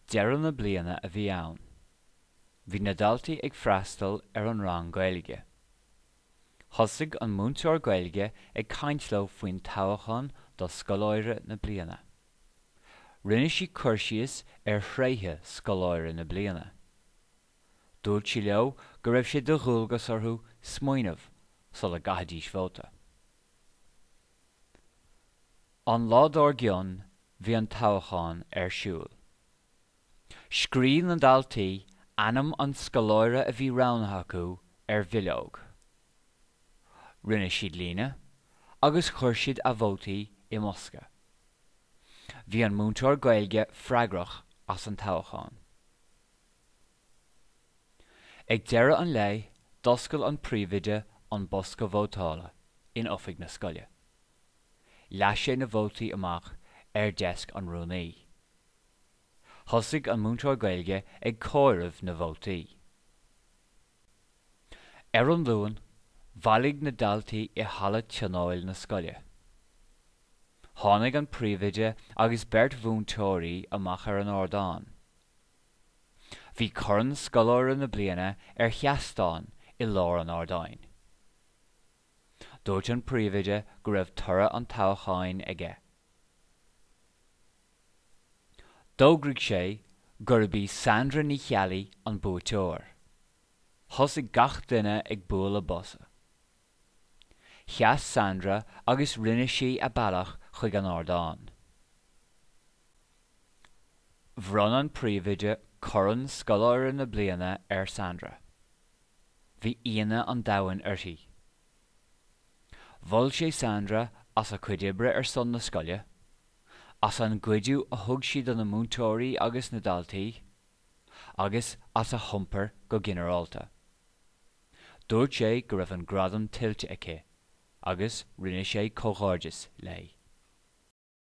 Deireadh na bliana a bhí ann. Bhí na daltaí ag freastal ar an rang Gaeilge. Thosaigh an múinteoir Gaeilge ag caint leo faoin toghachán do Scoláire na Bliana. Rinne sí cur síos ar thréithe Scoláire na Bliana. Dúirt sí leo go raibh sé de dhualgas orthu smaoineamh sula gcaithfidís vóta. An lá dár gcionn bhí an toghachán ar siúl. Scríobh na daltaí ainm an scoláire a bhí roghnaithe acu ar bhileog. Rinne siad líne agus chuir siad a vótaí i mbosca. Bhí an múinteoir Gaeilge freagrach as an toghachán. Ag deireadh an lae, d'oscail an príomhoide an bosca vótála in oifig na scoile. Leath sé na vótaí amach ar deisc an rúnaí. Thosaigh an múinteoir Gaeilge ag comhaireamh na vótaí. Ar an Luan, bhailigh na daltaí i halla tionóil na scoile. Tháinig an príomhoide agus beirt mhúinteoirí amach ar an ardán. Bhí Corn Scoláire na Bliana ar sheastán i lár an ardáin. Dúirt an príomhoide go raibh toradh an toghcháin aige. D'fhógraigh sé gurb í Sandra Ní Cheallaigh an buaiteoir. Thosaigh gach duine ag bualadh bosa. Sheas Sandra agus rinne sí a bealach chuig an ardán. Bhronn an príomhoide corn scoláire na bliana ar Sandra. Bhí ionadh an domhain uirthi. Mhol sé Sandra as a cuid oibre ar son na scoile, as an gcuidiú a thug sí do na múinteoirí agus na daltaí, agus as a hiompar go ginearálta. Dúirt sé go raibh an gradam tuillte aici agus rinne sé comhghairdeas léi.